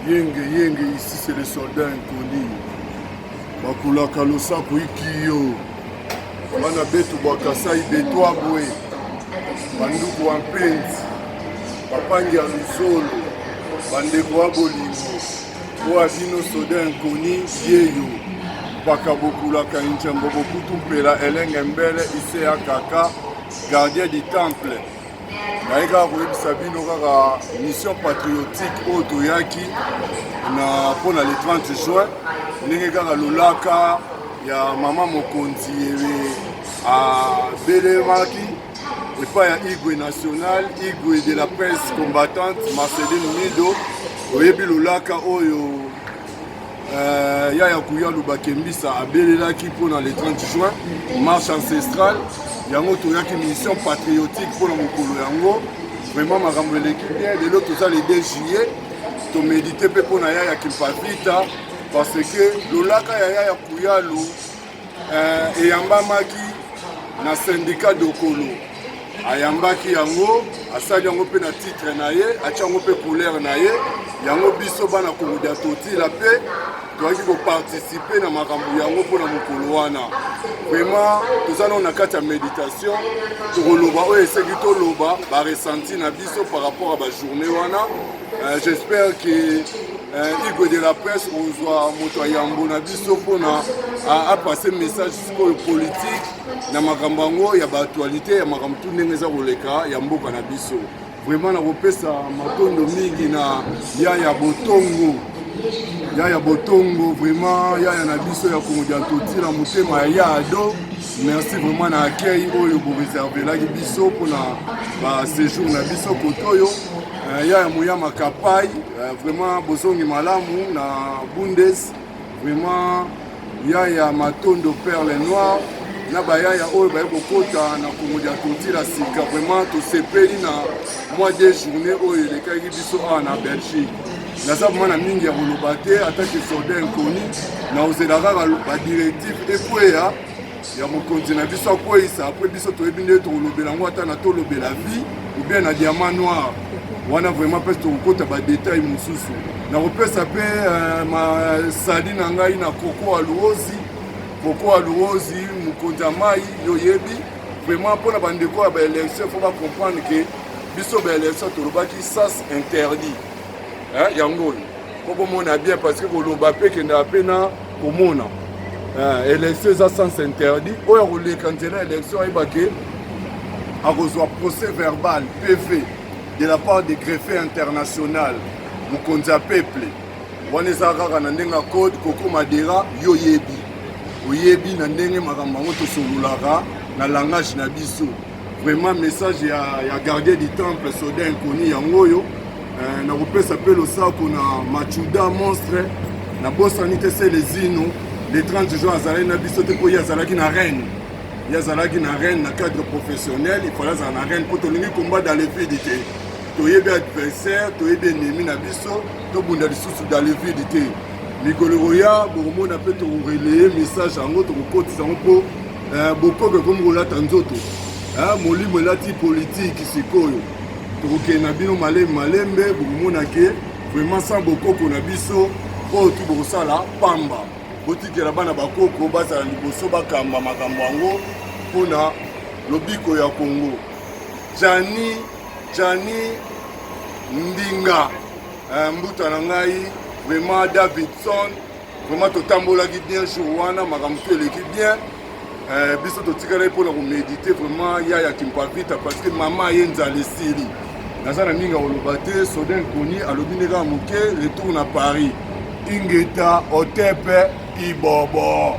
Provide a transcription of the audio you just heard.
yenge yenge ici c'est le soldat inconnu bakulaka losako ikiyo bana betu bwa kasai betwa bwe banduku wa mpenzi bapangi ya luzolo bandeko wa bolingo oyo abino soda inkoni yeyo mpaka bokulaka injambo bokutu mpela elenge mbele ise ya kaka gardien du temple naye kaka koyebisa bino kaka mission patriotique oyo toyaki na mpo na le 30 juin ndenge kaka lolaka ya mama mokonzi abelemaki epai ya igwe national igwe de la presse combattante marceline mido oyebi lolaka oyo Euh, yaya kuya lubakembisa abelelaki mpo na le 30 juin marche ancestrale yango toyaki mission patriotique mpo na mokolo yango vraiment makambo eleki bien lelo toza le 2 juillet tomedite mpe mpo na yaya kimpavita parce que lolaka ya yaya kuyalu Eh, eyambamaki na syndicat dokolo ayambaki yango asali yango mpe na titre na ye atya yango mpe couleur na ye yango biso bana komodia totila mpe toyaki koparticipe na makambo yango mpo na mokolo wana vraiment toza nao na kati ya méditation tokoloba oyo eseki toloba baresenti na biso par rapport ya bajournée wana Euh, j'espère que euh, Igwe de la presse ozwa moto ya yambo na biso mpona apase message sikoyo politique na makambo yango ya baaktualité ya makambo tu ndenge eza koleka ya mboka na biso vraiment nakopesa matondo mingi na yaya botongo yaya botongo vraiment yaya na biso ya kongo dia totila motema ya yaado merci vraiment na accueil oyo boreservelaki biso mpona basejour na biso kotoyo Euh, ya ya moyama kapai euh, vraiment bozongi malamu na bundes vraiment ya ya matondo perle noir na bayaya oyo baye kokota na kongo dia kotila sika vraiment tosepeli na mwa de journée oyo elekaki biso awa na belgique naza vraimen na mingi ya koloba te atake soldat inconi na ozela kaka badirective ekweya ya mokonzi na biso akweyisa apres biso toyebi nde tokolobela yango ata na tolobela vie oubien na diamant noir wana vraiment mpesi tokokota badetail mosusu nakopesa mpe euh, masali na ngai na koko aluozi koko aluozi mokonzi ya mai yoyebi vraiment mpo na bandeko ya baélection fo bacomprendre ke biso baélection tolobaki sas interdit yango oyo okomona bien parce que koloba mpe ekendaka mpe na komona eh, élection eza sens interdit oyo akoleka nzela élection ayeba ke akozwa procès verbal pv de la part de greffe international mokonzi ya peuple wana eza kaka na ndenge ya code koko madera yo oyebi oyebi na ndenge makambo yango tosololaka na langage na biso vraiment message ya, ya gardien du temple soda inconnu yango oyo eh, nakopesa mpe losako na machuda monstre na bosani te se lezino le 30 juin azalaki na biso te mpo ye azalaki na reine ye azalaki na reine na cadre professionnel ifale azala na reine mpo tolingi combat dans le vide te toyebi adversaire toyebi enemi na biso tobunda lisusu dans le vide te mikolo ekoya bokomona mpe tokoreleye message yango tokokotisa yango mpo Eh, bokobi ekomi kolata nzoto eh, molimo elati politiki sikoyo tokokende na bino malembe malembe bokomona ke vraiment sans bokoko na biso oyo tu bokosala pamba botikela bana bakoko bazala liboso bakamba makambo yango mpona lobiko ya kongo jani jani ndinga eh, mbuta na ngai vraiment davidson vraiment totambolaki bien jour wana makambo to eleki bien eh, biso totikalaki mpona komedite vraiment ya ya kimpavita parce que mama ye nzala esili naza na mingi akoloba te soden koni alobi nde kaka moke retour na paris ingeta otepe ibobo